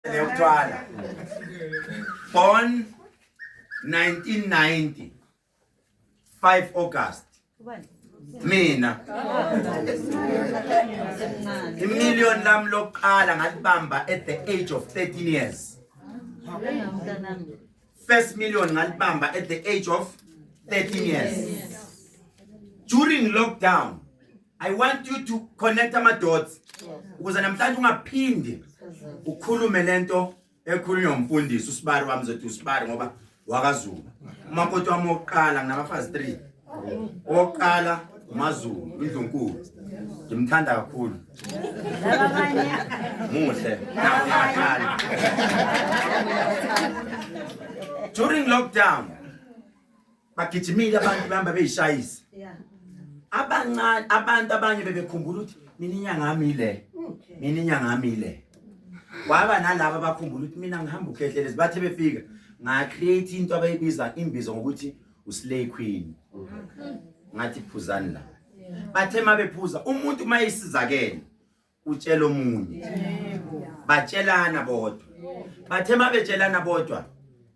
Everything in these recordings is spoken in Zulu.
yokuthwala born 1990 5 August mina imillion lam lokuqala ngalibamba at the age of 13 years first million ngalibamba at the age of 13 years during lockdown i want you to connect ama-dots ukuze namhlanje ungaphinde ukhulume le nto ekhulunywa umfundisi usibari wami zothi usibari ngoba wakazulu umakoti wami wokuqala nginabafazi three owokuqala umazulu indlunkulu ngimthanda kakhulu muhle nakhala during lockdown bagijimile abantu behamba beyishayisa Yeah. abancane abantu abanye bebekhumbula ukuthi mina inyanga yami ile mina inyanga yami ile waba nalaba abakhumbula ukuthi mina ngihamba ukhehlelezi bathe befika ngacreate into abayibiza imbizo ngokuthi uslay queen ngathi phuzani la bathe mabephuza umuntu mayisizakele utshela omunye batshelana bodwa bathe uma betshelana bodwa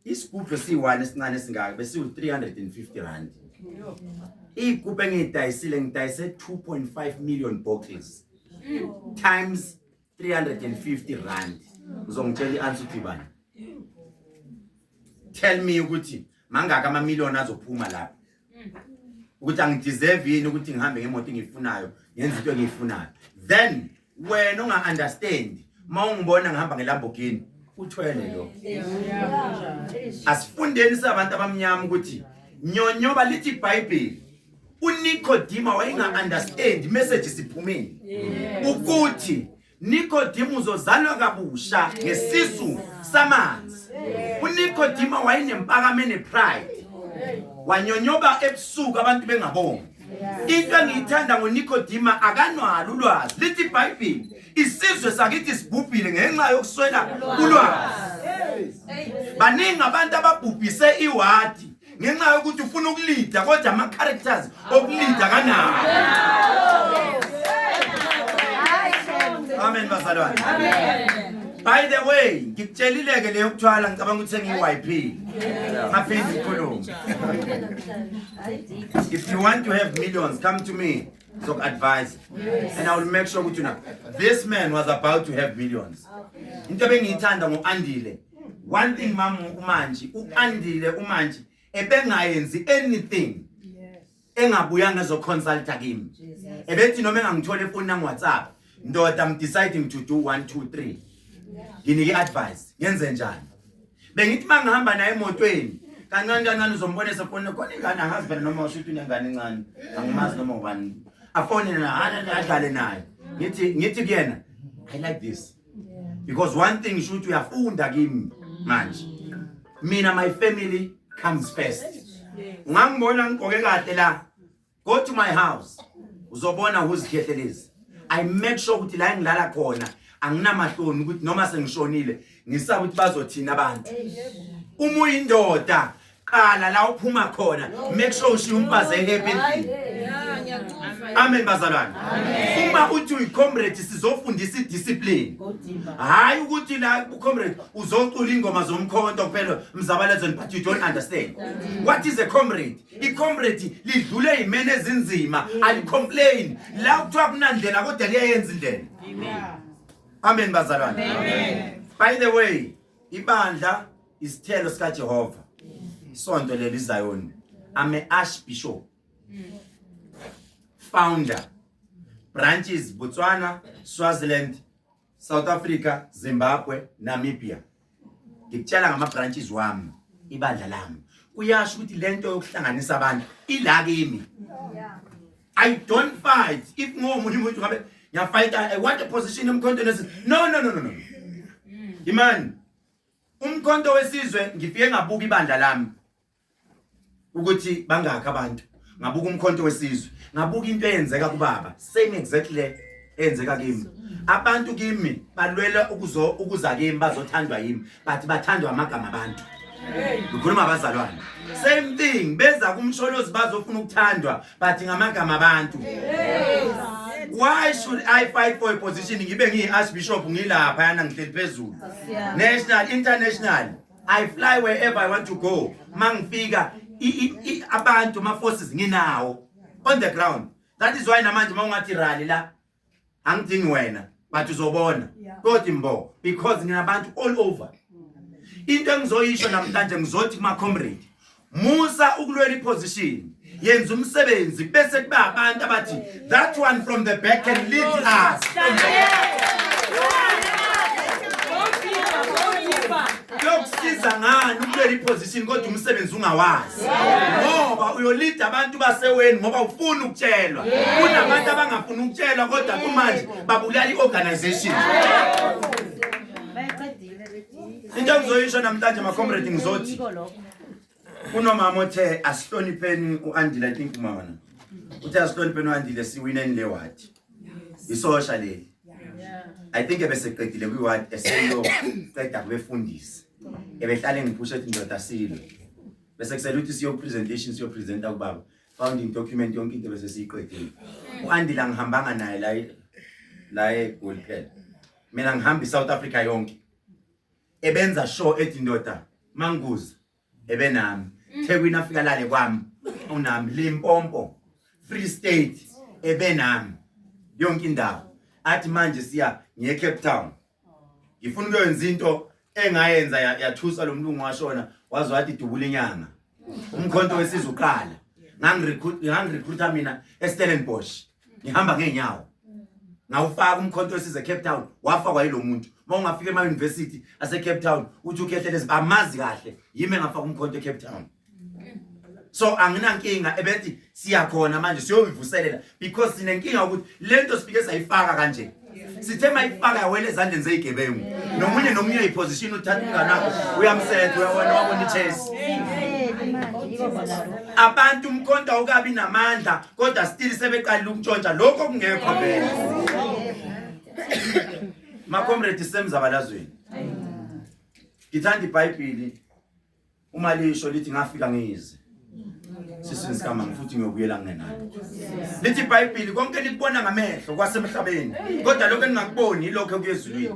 isigubhu esiyi-one esincane esingaka besiwu-three hundred and fifty rand iy'gubhu engiyidayisile ngidayise two point five million boxes times three hundred and fifty rand uzongitshela i-answer ukuthi bani tell me ukuthi mangaka amamiliyoni azophuma lapho ukuthi angideserve yini ukuthi ngihambe ngemoto engiyifunayo ngenza into engiyifunayo then wena unga-understand uma ungibona ngihamba ngelambogini uthwele lo asifundeni sabantu abamnyama ukuthi nyonyoba lithi ibhayibheli unikodima wayenga-understand message siphumile ukuthi Nikodima uzozalwa kabusha ngesisu samanzi. UNikodima wayenempakamo enepride. Wanyonyoba ebusuku abantu bengabongi. Into engiyithanda ngoNikodima akanwalo ulwazi. Lithi iBhayibheli isizwe sakithi sibhubhile ngenxa yokuswela ulwazi. Baningi abantu ababhubhise iwadi ngenxa yokuthi ufuna ukulida kodwa ama characters okulida kanawo amen bazalwane by the way ngikutshelileke leyo kuthwala ngicabanga ukuthi sengiyi-yp ngaphinde ikhulume if you want to have millions come to me Zok advise. Yes. And I will make sure ukuthi na this man was about to have millions. Into bengiyithanda ngoAndile. one thing mama umanji uandile umanji ebengayenzi anything engabuya ngezoconsulta kimi ebethi noma engangithola efoni nami whatsapp ndoda i'm deciding to do 1 2 3 nginike advice ngenze njani bengithi mangihamba naye emotweni kancane kancane uzombona esefonini khona ingane angazi phela noma usho ukuthi unengane encane angimazi noma ubani afonele naye adlale naye ngithi ngithi kuyena i like this because one thing sho ukuthi uyafunda kimi manje mina my family comes first ungangibona ngigqoke kahle la go to my house uzobona whozikhyehlelezi i make sure ukuthi la engilala khona anginamahloni ukuthi noma sengishonile ngisaba ukuthi bazothina abantu uma uyindoda qala la uphuma khona make sure ushiya umfazi ehappy amen bazalwane uma uthi uyicomrade sizofundisa idiscipline hhayi ukuthi la ucomrade uzocula ingoma zomkhonto kuphela mzabalezweni but you don't understand what is a comrade icomrade lidlule yimene ezinzima alicomplain la kuthiwa kunandlela kodwa liyayenza indlela amen bazalwane by the way Ibandla isithelo sika Jehova. Isonto leli Zion. I'm a archbishop. Founder. Branches Botswana, Swaziland, South Africa, Zimbabwe, Namibia. Ngikutshela ngama branches wami, ibandla lami. Kuyasho ukuthi lento yokuhlanganisa abantu ila kimi. I don't fight. If ngomunye umuntu ngabe ngiyafighta I want a position emkhonto nesi. No no no no no. Imani. Umkhonto wesizwe ngifike ngabuka ibandla lami. Ukuthi bangaka abantu. Ngabuka umkhonto wesizwe. Ngabuka into eyenzeka kubaba. Same exactly enzeka kimi abantu kimi balwela ukuzo ukuza kimi bazothandwa yimi but bathandwa amagama abantu ngikhuluma abazalwane same thing beza kumsholozi bazofuna ukuthandwa but ngamagama abantu why should i fight for a position ngibe ngiyi-archbishop ngilapha yana ngihleli phezulu national international i fly wherever i want to go ma ngifika abantu ma-forces nginawo on the ground that is why namanje uma ungathi rally la angidingi wena but uzobona kodwa imbo because nginabantu all over into engizoyisho namhlanje ngizothi kuma comrade musa ukulwela iposition yenza umsebenzi bese kuba abantu abathi that one from the back can lead us kuyokusiza ngani ukubeka iposition kodwa umsebenzi ungawazi ngoba uyolida abantu baseweni ngoba ufuni ukutshelwa kunabantu abangafuni ukutshelwa kodwa kumanje babulala i-organization into engizoyisho namhlanje macomrade ngizothi Kunomama othe asihlonipheni uAndile I think uma wona. Uthe asihlonipheni uAndile siwineni le ward. Isosha leli. I think ebeseqedile kwi ward eseyo qeda kubefundisi. Ebehlale ngiphusha ethi ndoda silo. Bese kusele ukuthi siyo presentation siyo presenter kubaba. Founding document yonke into bese siyiqedile. UAndile angihambanga naye la la eGoli phela. Mina ngihamba iSouth Africa yonke. ebenza show ethi ndoda manguza ebenami mm. thekwini afika lale kwami unami limpompo free state ebenami yonke indawo athi manje siya ngiye cape town ngifuna ukuyokwenza into engayenza yathusa lo mlungu washona waze wathi dubula inyanga umkhonto wesizwe uqala ngangirecruita mina estellenbosch ngihamba ngeenyawo ngawufaka umkhonto wesize Cape Town wafakwa yilo muntu uma ungafika ema university ase Cape Town uthi ukhehlelezi bamazi kahle yimi engafaka umkhonto e Cape Town so anginankinga ebethi siyakhona manje siyoyivuselela because sinenkinga ukuthi lento sifike sayifaka kanje sithe mayifaka yawela ezandleni zeyigebengu nomunye nomunye uyiposition uthatha umnganakho uyamsetha uyawona wabona ichesi abantu umkhonto awukabi namandla kodwa still sebeqalile ukutshontsha lokho kungekho vele makomredi semzabalazweni ngithanda ibhayibhili Uma lisho lithi ngafika ngize sisini sikamama futhi ngiyobuyela ngingenalo lithi ibhayibhili konke likubona ngamehlo kwasemhlabeni kodwa lokho eningakuboni yilokho kuyezulwini